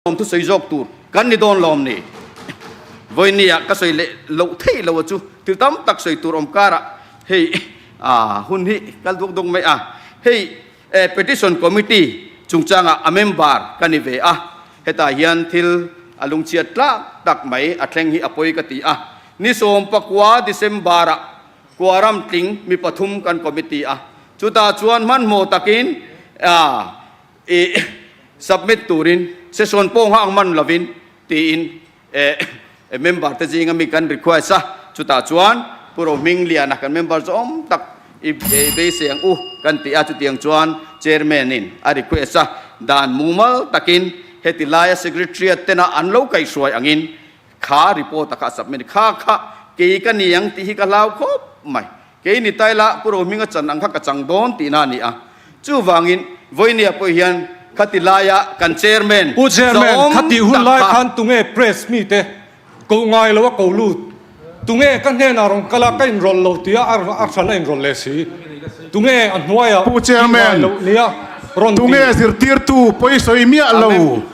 Awm thu sawi zawk tur kan ni dawn lawm ni? Vawini-a ka sawi leh loh theih lo a chu thil tam tak sawi tur awm kara hei hun hi kal duak duak mai a, hei Petition Committee chungchanga a member ka ni ve a, hetah hian thil a lungchhiat tlak tak mai a thleng hi a pawi ka ti a, ni sawmpakua December-a Kuaram tling mi pathum kan committee a, chuta chuan hmanhmawh takin i submit turin session pawh nghak man lovin tiin member te zinga mi kan request a, chutah chuan Pu Rohming Liana kan member zawng tak i beiseng u kan ti a, chutiang chuan chairman in a request a dan mumal takin heti laia secretariat tena an lo kaihruai angin kha report a kha submit kha kha kei ka ni ang tih hi ka hlau khawp mai. Kei ni ta ila Pu Rohminga chan ang kha ka chang dawn tihna a ni a. Chuvangin Vawinia pawh hian khati laia kan Chairman Pu Chairman zawm khati hun tak lai kha. khan tunge Press mite koh ngai lo a ko lut? Tunge ka hnenah rawn kal a ka in rawl lo tia a a hran a in rawl leh si? Tunge a hnuaia Pu Chairman tunge zirtirtu pawi sawi miah lo?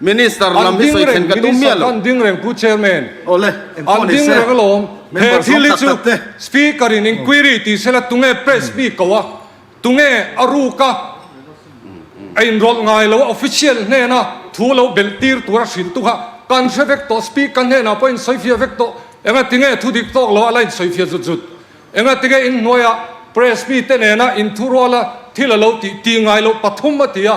Minister lam hi sawi thlen ka tum miah lo. An ding reng pu chairman, an ding reng alawm, he thil hi chu speaker in inquiry tih se la tunge press mi koh a, tunge a ruk a, a in rawlh ngai lo a, official hnena thu lo belh tir tur a hrilh tu kha kan hre vek tawh, speaker hnenah pawh in sawifiah vek tawh, engatinge thu dik tawk lo a la in sawifiah zut zut, engatinge in hnuaia press mi te nena in thu rual a thil a lo tih ti ngai lo pathum a ti a,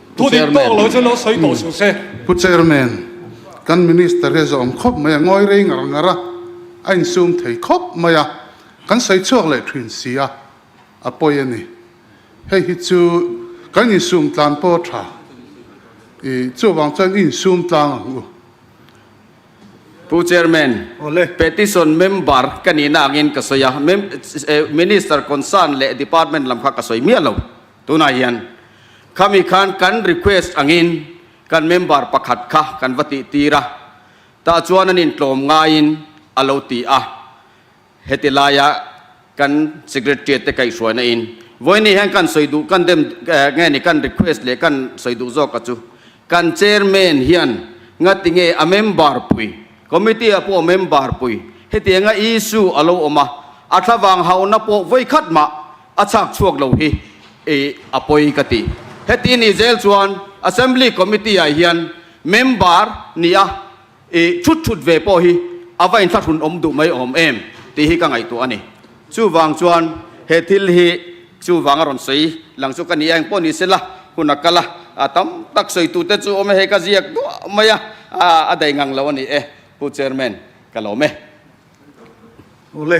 Pu Chairman, kan Minister hi a zawm khawp mai a, ngawi rei ngar ngar a, a insum thei khawp mai a, kan sawi chhuak leh thin si a, a pawi a ni. Hei hi chu kan insum tlan pawh tha, i chuvang chuan i insum tlang ang u. Pu Chairman, Petition Member ka nihna angin ka sawi a, Minister concern leh Department lam kha ka sawi miah lo. Tunah hian khami khan kan request angin kan member pakhat kha kan va tihtir a, tah chuan an intlawm ngaiin a lo ti a, heti laia kan secretariat te kaihhruaina in vawi ni hian kan sawi duh kan dem nge ni kan request leh kan sawi duh zawk a chu kan chairman hian ngati nge a member pui committee ah pawh member pui heti anga issue a lo awm a, a thlavang hauna pawh vawi khat mah A chhak chhuak lo hi i a pawi ka ti. Heti ni zel chuan Assembly Committee ah hian member nih a i thut thut ve pawh hi a va inthlahrun awm duh mai awm em tih hi ka ngaihtuah a ni. Chuvang chuan he thil hi chuvang a rawn sawi lang chu ka nih a, engpawh ni sela hun a kal a, a tam tak sawitu te chu awm e hei ka ziak duah mai a, a dai ngang lo a ni e pu Chairman ka lawm e. Awle.